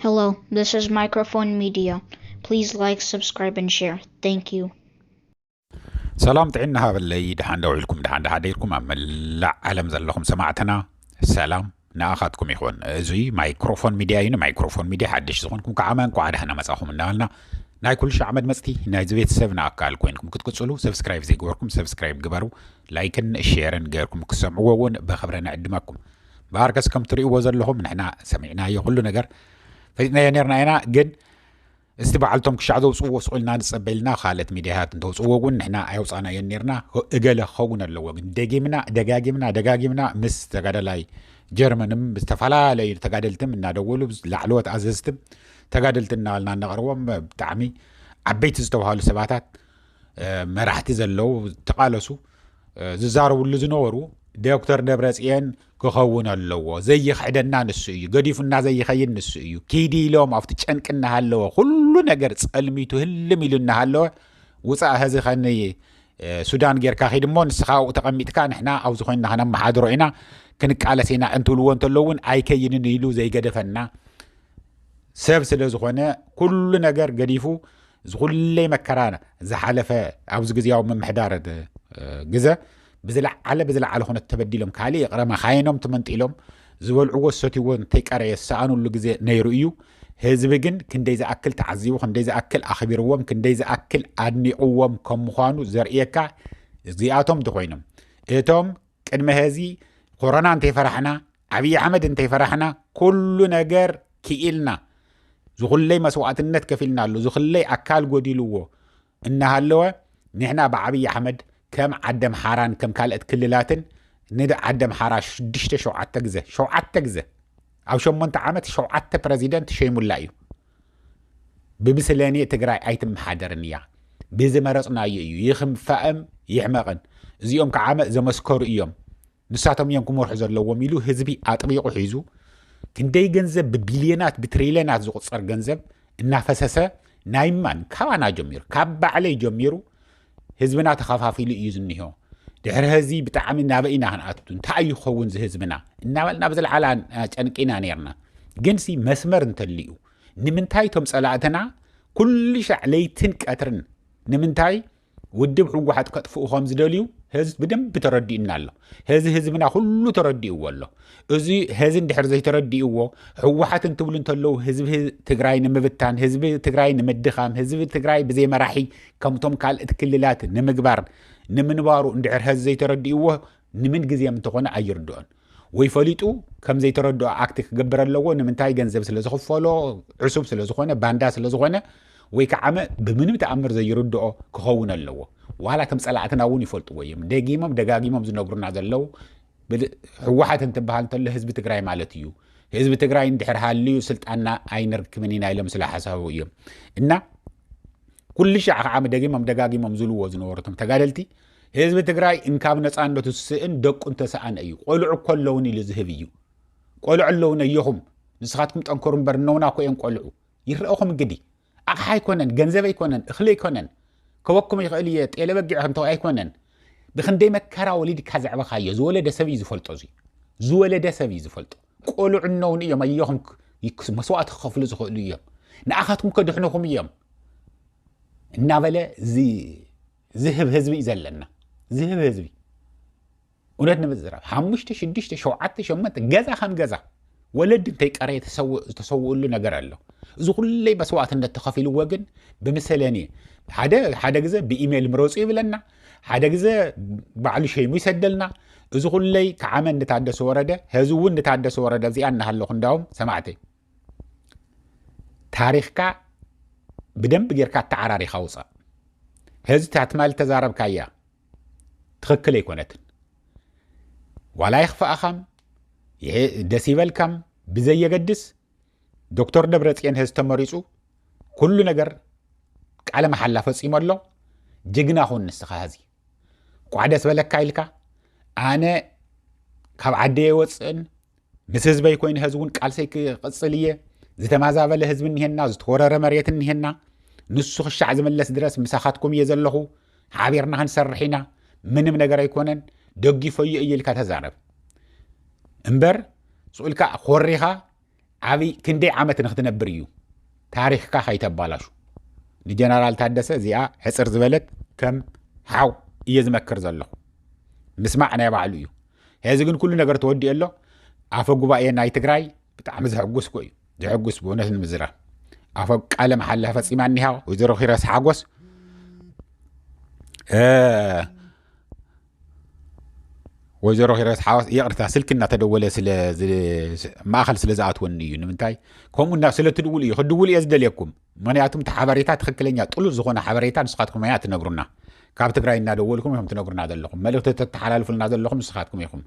Hello, this is Microphone Media. Please like, subscribe, and share. Thank you. ሰላም ጥዕና ሃበለይ ድሓን ዶ ውዒልኩም ድሓን ድሓደርኩም ኣብ መላእ ዓለም ዘለኹም ሰማዕትና ሰላም ንኣኻትኩም ይኹን እዙይ ማይክሮፎን ሚድያ እዩ ንማይክሮፎን ሚድያ ሓድሽ ዝኾንኩም ከዓ መን ኳዓ ዳሕና መፃኹም እናበልና ናይ ኩሉ ሻዕ መድመፅቲ ናይዚ ቤተሰብ ንኣካል ኮይንኩም ክትቅፅሉ ሰብስክራይብ ዘይገበርኩም ሰብስክራይብ ግበሩ ላይክን ሼርን ገርኩም ክሰምዕዎ እውን ብክብረ ንዕድመኩም ብሃርከስ ከም ትሪእዎ ዘለኹም ንሕና ሰሚዕናዮ ኩሉ ነገር ፈጥናዮ ነርና ኢና ግን እስቲ በዓልቶም ክሻዕ ዘውፅዎ ስቁልና ንፀበልና ካልኦት ሚድያታት እንተውፅዎ እውን ንሕና ኣየውፃናዮ ነርና እገለ ክኸውን ኣለዎ ግን ደጊምና ደጋጊምና ደጋጊምና ምስ ተጋዳላይ ጀርመንም ዝተፈላለዩ ተጋደልትም እናደወሉ ላዕለዎት ኣዘዝትም ተጋደልቲ እናበልና እናቕርቦም ብጣዕሚ ዓበይቲ ዝተባሃሉ ሰባታት መራሕቲ ዘለው ተቓለሱ ዝዛረብሉ ዝነበሩ ዶክተር ደብረፅየን ክኸውን ኣለዎ ዘይኽሕደና ንሱ እዩ ገዲፉና ዘይኸይድ ንሱ እዩ ኪዲ ኢሎም ኣብቲ ጨንቂ እናሃለወ ኩሉ ነገር ፀልሚቱ ህልም ኢሉ እናሃለወ ውፃእ ሀዚ ከኒ ሱዳን ጌርካ ኺድ እሞ ንስኻ ኣብኡ ተቐሚጥካ ንሕና ኣብዚ ኮይንና ከነመሓድሮ ኢና ክንቃለስ ኢና እንትብልዎ እንተሎ እውን ኣይከይንን ኢሉ ዘይገደፈና ሰብ ስለ ዝኾነ ኩሉ ነገር ገዲፉ እዚ ኩለይ መከራ ዝሓለፈ ኣብዚ ግዜያዊ ምምሕዳር ግዘ ብዝለዓለ ብዝለዓለ ኩነት ተበዲሎም ካልእ ይቕረ መኻይኖም ትመንጢሎም ዝበልዕዎ ዝሰትይዎ እንተይቀረየ ዝሰኣኑሉ ግዜ ነይሩ እዩ ህዝቢ ግን ክንደይ ዝኣክል ተዓዚቡ ክንደይ ዝኣክል ኣኽቢርዎም ክንደይ ዝኣክል ኣድኒቕዎም ከም ምዃኑ ዘርእየካ እዚኣቶም እንተኮይኖም እቶም ቅድሚ ሀዚ ኮሮና እንተይፈራሕና ዓብዪ ኣሕመድ እንተይፈራሕና ኩሉ ነገር ክኢልና ዝኹለይ መስዋእትነት ከፊልናሉ ዝኹለይ ኣካል ጎዲልዎ እናሃለወ ንሕና ብዓብዪ ኣሕመድ ከም ዓደምሓራን ከም ካልኦት ክልላትን ንዓደምሓራ ሽዱሽተ ሸውዓተ ግዘ ሸውዓተ ግዘ ኣብ ሸሞንተ ዓመት ሸውዓተ ፕረዚደንት ሸይሙላ እዩ ብብስለኔ ትግራይ ኣይትመሓደርን እያ ብዝመረፅናዮ እዩ ይኽንፋእም ይሕመቕን እዚኦም ከዓመ ዘመስከሩ እዮም ንሳቶም እዮም ክመርሑ ዘለዎም ኢሉ ህዝቢ ኣጥቢቑ ሒዙ ክንደይ ገንዘብ ብቢልዮናት ብትሪልዮናት ዝቑፀር ገንዘብ እናፈሰሰ ናይ ማን ካባና ጀሚሩ ካብ ባዕለይ ጀሚሩ ህዝብና ተኸፋፊሉ እዩ ዝኒሆ ድሕሪ ህዚ ብጣዕሚ ናበይ ኢና ክንኣቱ እንታይ እዩ ክኸውን ዝህዝብና እናበልና ብዝለዓላ ጨንቂና ነርና ግን ሲ መስመር እንተልዩ ንምንታይ እቶም ፀላእትና ኩሉ ሻዕ ለይትን ቀትርን ንምንታይ ውድብ ህወሓት ከጥፍኡ ከም ዝደልዩ ህዝ ብደንብ ተረዲኡና ኣሎ ህዚ ህዝብና ኩሉ ተረዲእዎ ኣሎ እዚ ህዚ እንድሕር ዘይተረዲእዎ ህወሓት እንትብሉ እንተለዉ ህዝቢ ትግራይ ንምብታን ህዝቢ ትግራይ ንምድኻም ህዝቢ ትግራይ ብዘይ መራሒ ከምቶም ካልእት ክልላት ንምግባር ንምንባሩ እንድሕር ህዚ ዘይተረዲእዎ ንምን ግዜም እንተኾነ ኣይርድኦን ወይ ፈሊጡ ከም ዘይተረድኦ ኣክቲ ክገብር ኣለዎ ንምንታይ ገንዘብ ስለ ዝኽፈሎ ዕሱብ ስለ ዝኾነ ባንዳ ስለ ዝኾነ ወይ ከዓመ ብምንም ተኣምር ዘይርድኦ ክኸውን ኣለዎ ዋላ ከም ጸላእትና እውን ይፈልጥዎ እዮም ደጊሞም ደጋጊሞም ዝነግሩና ዘለው ህወሓት እንትበሃል እንተሎ ህዝቢ ትግራይ ማለት እዩ ህዝቢ ትግራይ እንድሕር ሃልዩ ስልጣንና ኣይንርክብን ኢና ኢሎም ስለ ሓሳቡ እዮም እና ኩሉ ሻዕ ከዓመ ደጊሞም ደጋጊሞም ዝልዎ ዝነበሩቶም ተጋደልቲ ህዝቢ ትግራይ እንካብ ነፃነቱ ዝስእን ደቁ እንተሰኣነ እዩ ቆልዑ እኮ ኣለውን ኢሉ ዝህብ እዩ ቆልዑ ኣለውን ኣየኹም ንስኻትኩም ጠንከሩ እምበር እነውና እኮ እዮም ቆልዑ ይረእኹም እንግዲህ ኣቕሓ ኣይኮነን ገንዘብ ኣይኮነን እኽሊ ኣይኮነን ከወኩም ይኽእል እየ ጤለ በጊዕ ከምተ ኣይኮነን ብክንደይ መከራ ወሊድካ ዘዕበኻዮ ዝወለደ ሰብ እዩ ዝፈልጦ እዚ ዝወለደ ሰብ እዩ ዝፈልጦ ቆልዑ እነውን እዮም ኣየኹም መስዋእቲ ክኸፍሉ ዝኽእሉ እዮም ንኣኻትኩም ከድሕንኹም እዮም እናበለ እዚ ዝህብ ህዝቢ እዩ ዘለና ዝህብ ህዝቢ እውነት ንምዝራብ ሓሙሽተ ሽዱሽተ ሸውዓተ ሸመንተ ገዛ ከም ገዛ ወለድ እንተይቀረየ ዝተሰውእሉ ነገር ኣሎ እዚ ኩለይ መስዋእትነት ተኸፊልዎ ግን ብምሰለኒ ሓደ ሓደ ግዘ ብኢሜይል ምረፁ ይብለና ሓደ ግዘ ባዕሉ ሸይሙ ይሰደልና እዚ ኩለይ ክዓመ እንታደሰ ወረደ ህዚ እውን እንታደሰ ወረደ እዚኣ እናሃለኹ እንዳውም ሰማዕተይ ታሪኽካ ብደንብ ጌርካ ተዓራሪኻ ውፃእ ህዚ ታትማል ተዛረብካያ ትኽክል ኣይኮነትን ዋላ ይኽፍኣኻም ደስ ይበልካም ብዘየገድስ ዶክተር ደብረፅዮን ህዝ ተመሪፁ ኩሉ ነገር ቃለ መሓላ ፈፂሞ ኣሎ ጅግና ኹን ንስኻ ህዚ ቋዕ ደስ በለካ ኢልካ ኣነ ካብ ዓደየ ወፅእን ምስ ህዝበይ ኮይኑ ሐዚ እውን ቃልሰይ ክቕፅል እየ ዝተማዛበለ ህዝቢ እኒሄና ዝተወረረ መሬት እኒሄና ንሱ ክሻዕ ዝምለስ ድረስ ምሳኻትኩም እየ ዘለኹ ሓቢርና ክንሰርሕ ኢና ምንም ነገር ኣይኮነን ደጊፈዮ እዩ ኢልካ ተዛረብ እምበር ስኡልካ ኮሪኻ ዓብይ ክንደይ ዓመት ንክትነብር እዩ ታሪክካ ከይተባላሹ ንጀነራል ታደሰ እዚኣ ሕፅር ዝበለት ከም ሓው እየ ዝመክር ዘለኹ ምስማዕ ናይ ባዕሉ እዩ ሄዚ ግን ኩሉ ነገር ተወዲኡ ኣሎ ኣፈ ጉባኤ ናይ ትግራይ ብጣዕሚ ዘሐጉስ ኮ እዩ ዘሐጉስ ብእውነት ንምዝራ ኣፈ ቃለ መሓላ ፈፂማ እኒሃ ወይዘሮ ኪረስ ሓጎስ ወይዘሮ ሂረስ ሓዋስ ይቕርታ ስልኪ እናተደወለ ማእኸል ስለ ዝኣትወኒ እዩ ንምንታይ ከምኡ ስለ ትድውሉ እዩ ክድውሉ እየ ዝደልየኩም ምክንያቱም እቲ ሓበሬታ ትክክለኛ ጥሉል ዝኮነ ሓበሬታ ንስካትኩም ኣያ ትነግሩና ካብ ትግራይ እናደወልኩም ኢኹም ትነግሩና ዘለኹም መልእክቲ ተተሓላልፉልና ዘለኹም ንስካትኩም ኢኹም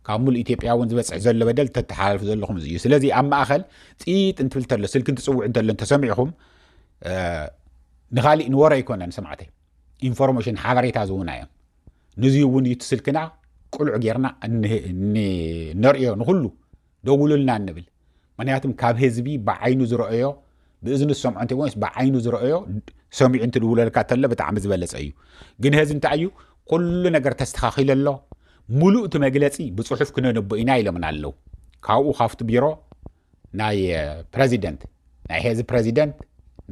ካብ ሙሉእ ኢትዮጵያ እውን ዝበፅሕ ዘሎ በደል ተተሓላልፉ ዘለኹም እዚ እዩ ስለዚ ኣብ ማእኸል ፅይጥ እንትብል እንተሎ ስልኪ እንትፅውዕ እንተሎ እንተሰሚዕኹም ንካሊእ ንወረ ኣይኮነን ሰማዕተይ ኢንፎርሜሽን ሓበሬታ ዝውና እዮም ንዚ እውን እዩ እቲ ስልክና ቁልዕ ጌርና ነርእዮ ንኩሉ ደውሉልና እንብል ምክንያቱም ካብ ህዝቢ ብዓይኑ ዝረኦዮ ብእዝኒ ዝሰምዖ እንተ ወይስ ብዓይኑ ዝረኦዮ ሰሚዑ እንትድውለልካ ተሎ ብጣዕሚ ዝበለፀ እዩ ግን ህዚ እንታይ እዩ ኩሉ ነገር ተስተኻኺለ ኣሎ ሙሉእ እቲ መግለፂ ብፅሑፍ ክነንቦ ኢና ኢሎምና ኣለው ካብኡ ካብቲ ቢሮ ናይ ፕረዚደንት ናይ ሄዚ ፕረዚደንት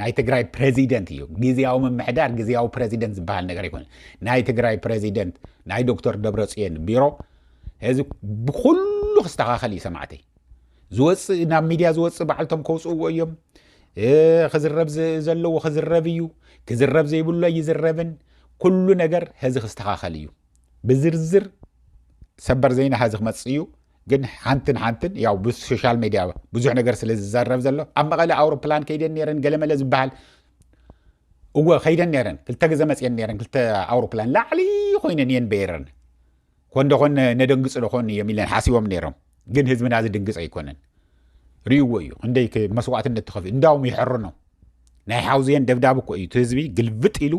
ናይ ትግራይ ፕረዚደንት እዩ ግዜያዊ ምምሕዳር ግዜያዊ ፕረዚደንት ዝበሃል ነገር ኣይኮነ ናይ ትግራይ ፕረዚደንት ናይ ዶክተር ደብረፅዮን ቢሮ ሕዚ ብኩሉ ክስተኻኸል እዩ ሰማዕተይ ዝወፅእ ናብ ሚድያ ዝወፅእ በዓልቶም ከውፅእዎ እዮም ክዝረብ ዘለዎ ክዝረብ እዩ ክዝረብ ዘይብሉ ኣይዝረብን ኩሉ ነገር ህዚ ክስተኻኸል እዩ ብዝርዝር ሰበር ዜና ህዚ ክመፅእ እዩ ግን ሓንትን ሓንትን ያው ብሶሻል ሚድያ ብዙሕ ነገር ስለ ዝዘረብ ዘሎ ኣብ መቐለ ኣውሮፕላን ከይደን ነረን ገለመለ ዝበሃል እወ ከይደን ነረን ክልተ ግዘ መፅየን ነረን ክልተ ኣውሮፕላን ላዕሊ ኮይነን እየን በይረን ኮንደኾን ነደንግፅ ዶኾን እዮም ኢለን ሓሲቦም ነይሮም ግን ህዝብና ዝድንግፅ ኣይኮነን ርይዎ እዩ ክንደይ መስዋእትነት ተኸፊ እንዳውም ይሕርኖ ናይ ሓውዝየን ደብዳብ እኮ እዩ እቲ ህዝቢ ግልብጥ ኢሉ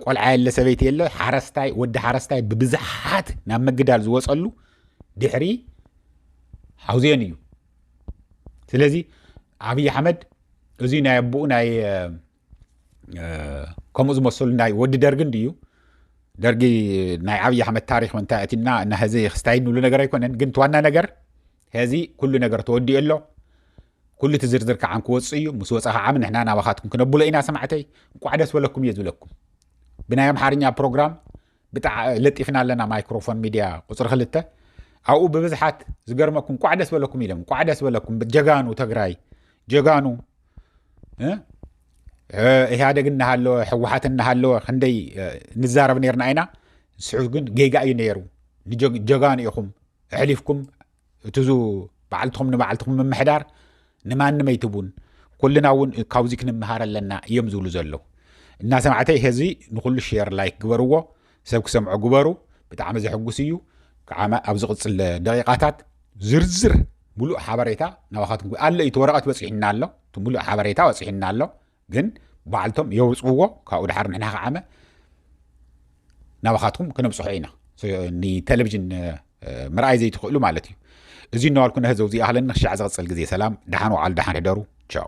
ቆልዓ የለ ሰበይቲ የለ ሓረስታይ ወዲ ሓረስታይ ብብዝሓት ናብ ምግዳል ዝወፀሉ ድሕሪ ሓውዜን እዩ ስለዚ ኣብዪ ኣሕመድ እዚ ናይ ኣቦኡ ናይ ከምኡ ዝመሰሉ ናይ ወዲ ደርጊ እንድዩ ደርጊ ናይ ዓብዪ ኣሕመድ ታሪክ እንታይ ኣቲና እና ሀዚ ክስታይ ንብሉ ነገር ኣይኮነን ግን ዋና ነገር ሀዚ ኩሉ ነገር ተወዲኡ ኣሎ ኩሉ እቲ ዝርዝር ከዓ ክወፅእ እዩ ምስ ወፃ ከዓ ንሕና ናባኻትኩም ክነብሎ ኢና ሰማዕተይ እንቋዕ ደስ በለኩም እየ ዝብለኩም ብናይ ኣምሓርኛ ፕሮግራም ብጣዕ ለጢፍና ኣለና ማይክሮፎን ሚድያ ቁፅሪ ክልተ ኣብኡ ብብዝሓት ዝገርመኩም እንቋዕ ደስ በለኩም ኢሎም እንቋዕ ደስ በለኩም ጀጋኑ ተግራይ ጀጋኑ ኢህኣደግ እናሃለወ ሕወሓት እናሃለወ ክንደይ ንዛረብ ነርና ኢና ንስሑ ግን ጌጋ እዩ ነይሩ ንጀጋኑ ኢኹም ኣሕሊፍኩም እቲዙ በዓልትኹም ንበዓልትኹም ምምሕዳር ንማንም ኣይትቡን ኩልና እውን ካብዚ ክንምሃር ኣለና እዮም ዝብሉ ዘለዉ እናሰማዕተይ ህዚ ንኩሉ ሸር ላይክ ግበርዎ ሰብ ክሰምዖ ግበሩ ብጣዕሚ ዘሕጉስ እዩ ከዓ ኣብ ዝቕፅል ደቂቓታት ዝርዝር ሙሉእ ሓበሬታ ናባኻትኩም ኣሎ እዩ እቲ ወረቐት በፂሑና ኣሎ እቲ ሙሉእ ሓበሬታ በፂሑና ኣሎ ግን ባዕልቶም የውፅዎ ካብኡ ድሓር ንሕና ከዓመ ናባኻትኩም ክነብፅሖ ኢና ንቴሌቭዥን ምርኣይ ዘይትኽእሉ ማለት እዩ እዚ እናዋልኩ ነህዘው እዚኣህለኒ ክሻዕ ዝቕፅል ግዜ ሰላም ድሓን ወዓሉ ድሓን ሕደሩ ቻው